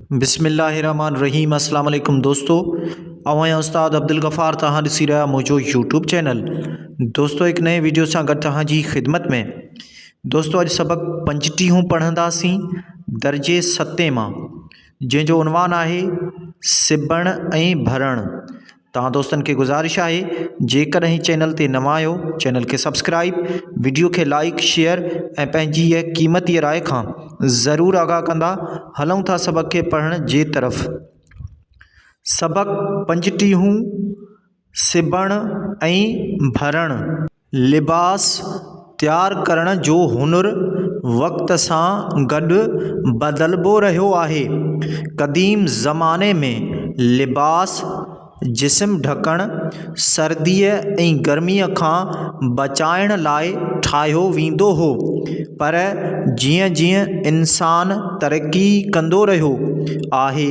بسم الله الرحمٰن الرحيم اسلام عليڪم دوستو اوهان يا استاد عبدالغفار توهان ڏسي رهيا آهيو منهنجو يوٽيوب چينل دوستو هڪ نئين ويڊيو سان گڏ توهان جي خدمت ۾ دوستو اڄ سبق پنجٽيهون پڙهنداسين درجي ستين مان جنهن جو عنوان آهي سبڻ ۽ ڀرڻ توهان دوستن کي گذارش آهي جيڪڏهن هي چينل تي نوان آهيو چينل کي سبسڪرائيب وڊيو کي لائيڪ شيئر ۽ پنهنجي هي قيمتي راء کان ضرور آگاهه ڪندا هلون ٿا سبق کي پڙهڻ جي طرف سبق پنجٽيهون سبڻ ۽ ڀرڻ لباس تيار ڪرڻ جو هنر وقت سان گڏ بدلبو رهيو آهي قديم زماني ۾ لباس جسم ڍڪڻ سرديء ۽ گرميء کان بچائڻ لاء ٺاهيو ويندو هو پر جيئن جيئن انسان ترقي ڪندو رهيو آهي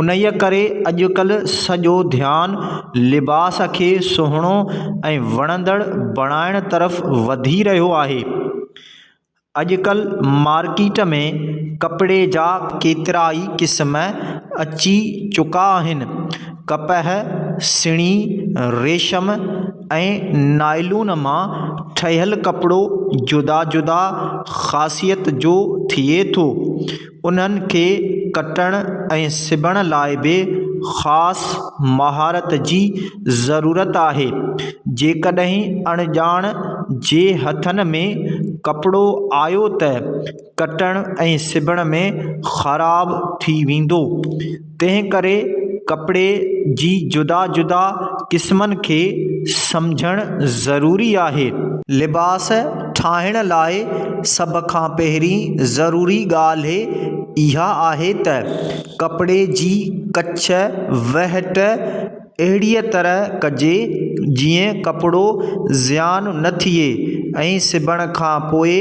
انهيء ڪري اڄڪلهه سڄو ڌيان لباس کي سهڻو ۽ وڻندڙ بڻائڻ طرف وڌي رهيو آهي. اڄڪلهه مارڪيٽ ۾ ڪپڙي جا ڪيترائي قسم اچي چڪا آهن. ڪپهه، سڻي، ريشم ۽ نائلون مان ٺهيل ڪپڙو جدا جدا خاصيت جو ٿئي ٿو. انهن کي ڪٽڻ ۽ سبڻ لاء به خاص مهارت جي ضرورت آهي. جيڪڏهن اڻڄاڻ جي هٿن ۾ ڪپڙو آيو ته ڪٽڻ ۽ سبڻ ۾ خراب ٿي ويندو. تنهن ڪري ڪپڙي جي جدا جدا قسمن کي سمجهڻ ضروري آهي. لباس ٺاهڻ لاء سڀ کان پهرين ضروري ڳالهه اها آهي ته ڪپڙي جي ڪڇ، وهٽ، اهڙيء طرح ڪجي جيئن ڪپڙو زيان نه ٿئي ۽ سبڻ کان پوء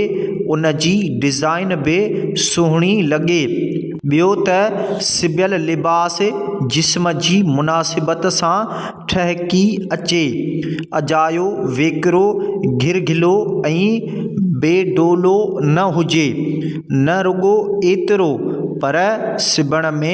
ان جي ڊزائن به سهڻي لڳي ٻيو ته سبيل لباس جسم جي مناسبت سان ٺهڪي اچي اجايو ويڪرو گهرگهلو ۽ بي ڊولو نه هجي نه رڳو ايترو پر سبڻ ۾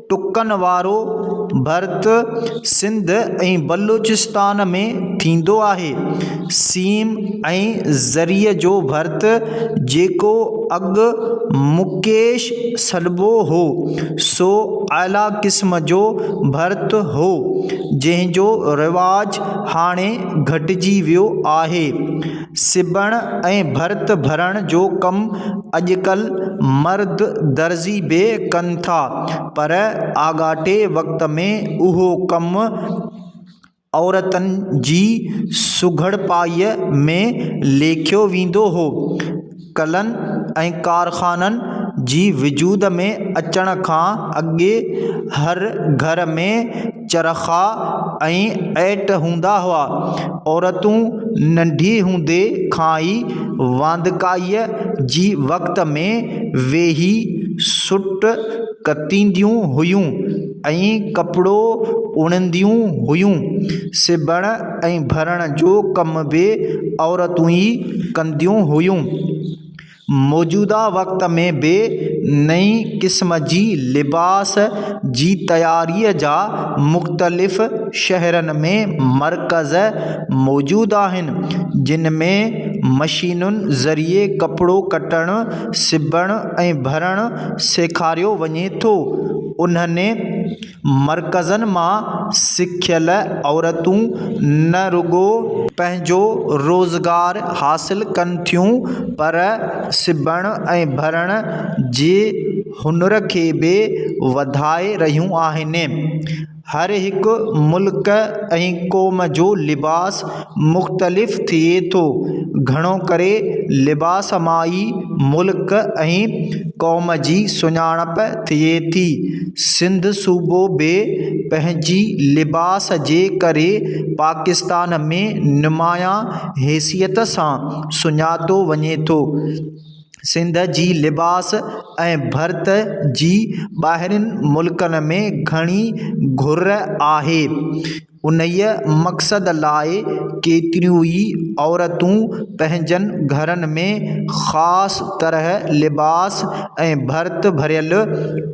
ٽڪن وارو ڀرت سنڌ ۽ بلوچستان ۾ ٿيندو آهي سيم ۽ زري جو ڀرت جيڪو اڳ مڪيش سڏبو هو سو اعليٰ قسم جو ڀرت هو جنهن جو رواج هاڻي گهٽجي ويو آهي سبڻ ۽ ڀرت ڀرڻ جو ڪم اڄڪلهه مرد درزي به ڪن ٿا پر آڳاٽي وقت ۾ اهو ڪم عورتن جي سگهڙپائيء ۾ ليکيو ويندو هو ڪلن ۽ ڪارخانن جي وجود ۾ اچڻ کان اڳي هر گهر ۾ چرخا ۽ ائٽ هوندا هئا عورتون ننڍي هوندي کان ئي واندڪائيء جي وقت ۾ ويهي سوٽ ڪتينديون هيون ۽ ڪپڙو اڻنديون هيون سبڻ ۽ ڀرڻ جو ڪم به عورتون ئي ڪنديون هيون. موجوده وقت ۾ به نئين قسم جي لباس جي تياريء جا مختلف شهرن ۾ مرڪز موجود آهن، جن ۾ مشينن ذريعي ڪپڙو ڪٽڻ، سبڻ ۽ ڀرڻ سيکاريو وڃي ٿو. انهن مرڪزن مان سکيل عورتون نه رڳو پنهنجو روزگار حاصل ڪن ٿيون پر سبڻ ۽ ڀرڻ جي هنر کي به وڌائي رهيون آهن هر هڪ ملڪ ۽ قوم جو لباس مختلف ٿئي ٿو. گهڻو ڪري لباس مان ئي ملڪ ۽ قوم جي سڃاڻپ ٿئي ٿي. سنڌ صوبو به پنهنجي لباس جي ڪري پاڪستان ۾ نمايان حيثيت سان سڃاتو وڃي ٿو. سنڌ جي لباس ۽ ڀرت جي ٻاهرين ملڪن ۾ گهڻي گهر آهي. انهيء مقصد لاء ڪيتريون ئي عورتون پنهنجن گهرن ۾ خاص طرح لباس ۽ ڀرت ڀريل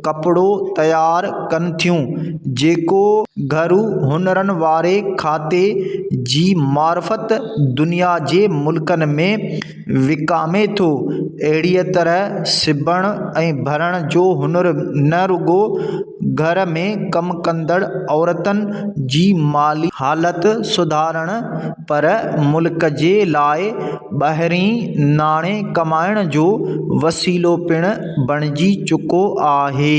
ڪپڙو تيار ڪن ٿيون، جيڪو گهرو هنرن واري کاتي جي معرفت دنيا جي ملڪن ۾. وڪامي ٿو. اهڙيء طرح سبڻ ۽ ڀرڻ جو هنر نه رڳو گهر ۾ ڪم ڪندڙ عورتن جي مالي حالت سڌارڻ پر ملڪ جي لاء ٻاهرئين ناڻي ڪمائڻ جو وسيلو پڻ بڻجي چڪو آهي.